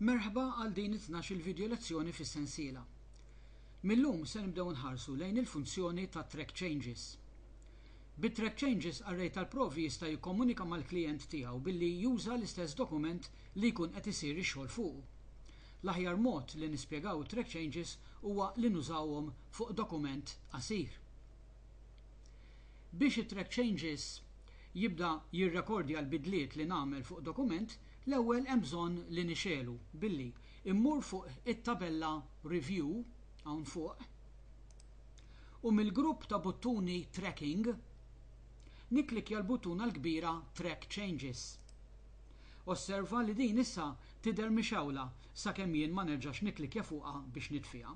Merħba għal din it-tnax-il vidjo lezzjoni fis-sensiela. Mil-lum se nibdew nħarsu lejn il-funzjoni ta' Track Changes. Bi Track Changes array tal-provi jista' jikkomunika mal-klijent tiegħu billi juża l-istess dokument li jkun qed isir ix-xogħol fuqu. L-aħjar mod li nispjegaw it-Track Changes huwa li nużawhom fuq dokument qasir. Biex it-Track Changes jibda jirrekordja l-bidliet li nagħmel fuq dokument, l-ewwel hemm bżonn li nixegħlu billi mmur fuq it-tabella Review hawn fuq u mill-grupp ta' buttuni Tracking nikklikkja l-buttuna l-kbira Track Changes. Osserva li din issa tidher mixgħula sakemm jien ma nerġax nikklikkja fuqha biex nitfiha.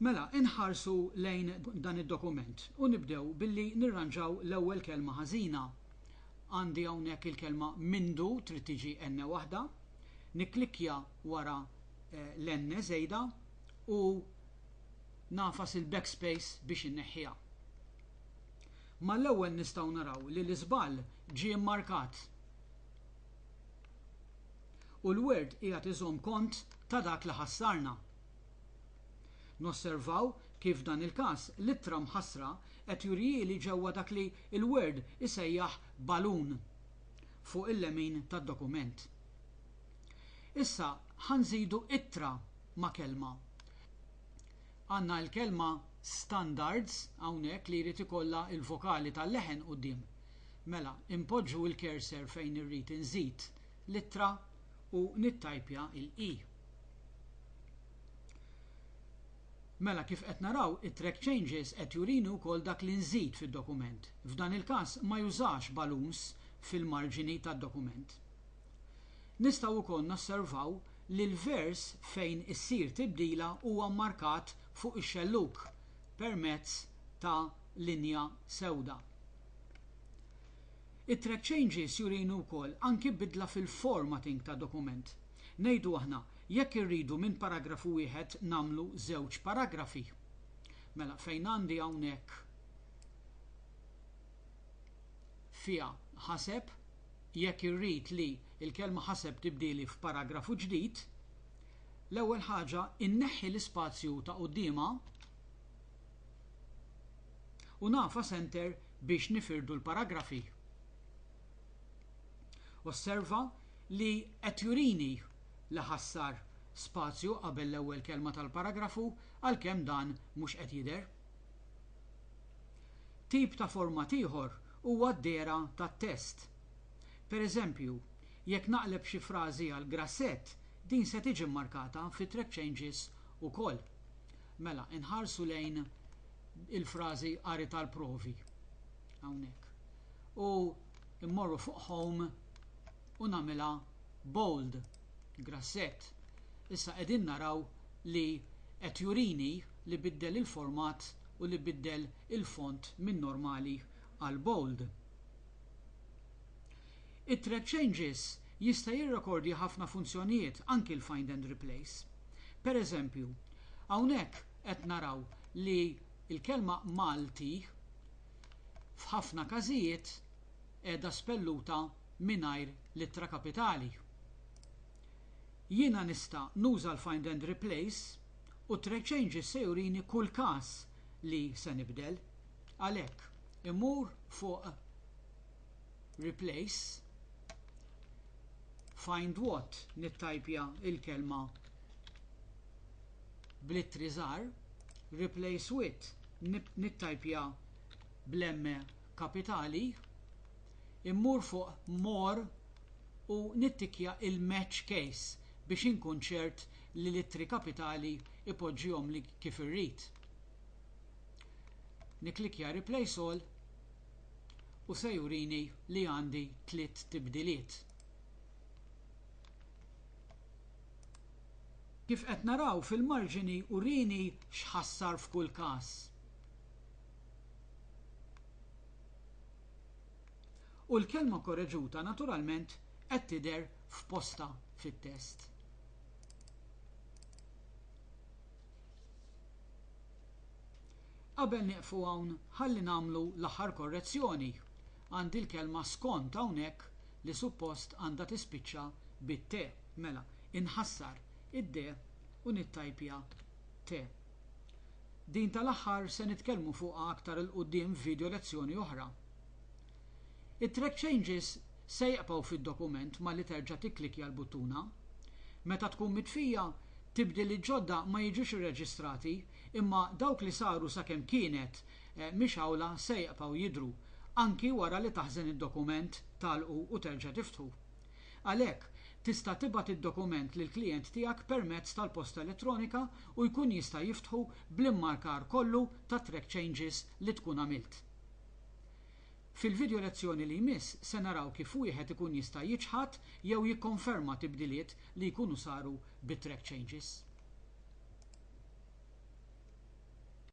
Mela, inħarsu lejn dan id-dokument u nibdew billi nirranġaw l-ewwel kelma ħażina. Għandi hawnhekk il-kelma mindu trid tiġi enne waħda. Nikklikkja wara l-enne żejda u nagħfas il-backspace biex inneħħiha. Mal-ewwel nistgħu naraw li l-iżball ġie mmarkat u l-Word qiegħed iżomm kont ta' dak li ħassarna. Nosservaw kif f'dan il-każ l-ittra mħassra qed jurihieli ġewwa dak li l-Word isejjaħ balun fuq il-lemin tad-dokument. Issa ħa nżidu ittra ma' kelma. Għandna l-kelma standards hawnhekk li jrid ikollha l-vokali tal-leħen quddiem. Mela, inpoġġu l-cursor fejn irrid inżid l-ittra u nittajpja l-i. Mela, kif qed naraw, it-track changes qed jurini wkoll dak li nżid fid-dokument. F'dan il-każ ma jużax balloons fil-marġini tad-dokument. Nistgħu wkoll nosservaw li l-vers fejn issir tibdila huwa mmarkat fuq ix-xellug permezz ta' linja sewda. It-track changes jurini wkoll anki bidla fil-formatting tad-dokument. Ngħidu aħna, jekk irridu minn paragrafu wieħed nagħmlu żewġ paragrafi. Mela fejn għandi hawnhekk fiha ħaseb, jekk irrid li l-kelma ħaseb tibdieli f'paragrafu ġdid, l-ewwel ħaġa inneħħi l-ispazju ta' quddiemha u nagħfas enter biex nifirdu l-paragrafi. Osserva li qed jurini li ħassar spazju qabel l-ewwel kelma tal-paragrafu għalkemm dan mhux qed jidher. Tip ta' format ieħor huwa d-dehra tat-test. Pereżempju, jekk naqleb xi frażi għal grassett, din se tiġi mmarkata fi Track Changes ukoll. Mela, inħarsu lejn il-frażi qari tal-provi. hawnhekk. U mmorru fuq home u nagħmilha bold, grassett. Issa qegħdin naraw li qed jurini li biddel il-format u li biddel il-font minn normali għal bold. It-thread changes jista' jirrekordja ħafna funzjonijiet, anki l-find and replace. Pereżempju, hawnhekk qed naraw li Il-kelma Malti f'ħafna każijiet qiegħda spelluta mingħajr l-ittra kapitali. Jiena nista' nuża l-find and replace u thread changes se jurini kull każ li se nibdel. Għalhekk, immur fuq Replace, Find What, nittajpja l-kelma bl-ittri żgħar, replace with nittajpja bl-emme kapitali, immur fuq more u nittikkja il-match case biex inkun ċert li l-ittri kapitali ipoġġihomli kif irrid. Nikklikkja replace all u se jurini li għandi tliet tibdiliet. Kif qed naraw fil-marġini urini x'ħassar f'kull każ. U l-kelma korreġuta naturalment qed tidher f'postha fit-test. Qabel nieqfu hawn ħalli nagħmlu l-aħħar korrezzjoni Għandi l-kelma skont hawnhekk li suppost għandha tispiċċa bit-te. Mela, inħassar id-de u nittajpja te. Din tal-aħħar se nitkellmu fuqha aktar 'il quddiem f'video lezzjoni oħra. It-track changes se jqbgħu fid-dokument malli terġa' tikklikkja l-buttuna. Meta tkun mitfija, tibdil il-ġodda ma jiġux irreġistrati imma dawk li saru sakemm kienet mhix awla se jqpgħu jidhru, anki wara li taħżen id-dokument, tagħlqu u terġa' tiftħu. Għalhekk, tista' tibgħat id-dokument lill-klijent tiegħek permezz tal-posta elettronika u jkun jista' jiftħu bl-immarkar kollu tat-track changes li tkun għamilt. Fil-vidjo lezzjoni li jmiss se naraw kif wieħed ikun jista' jiċħad jew jikkonferma tibdiliet li jkunu saru bit-track changes.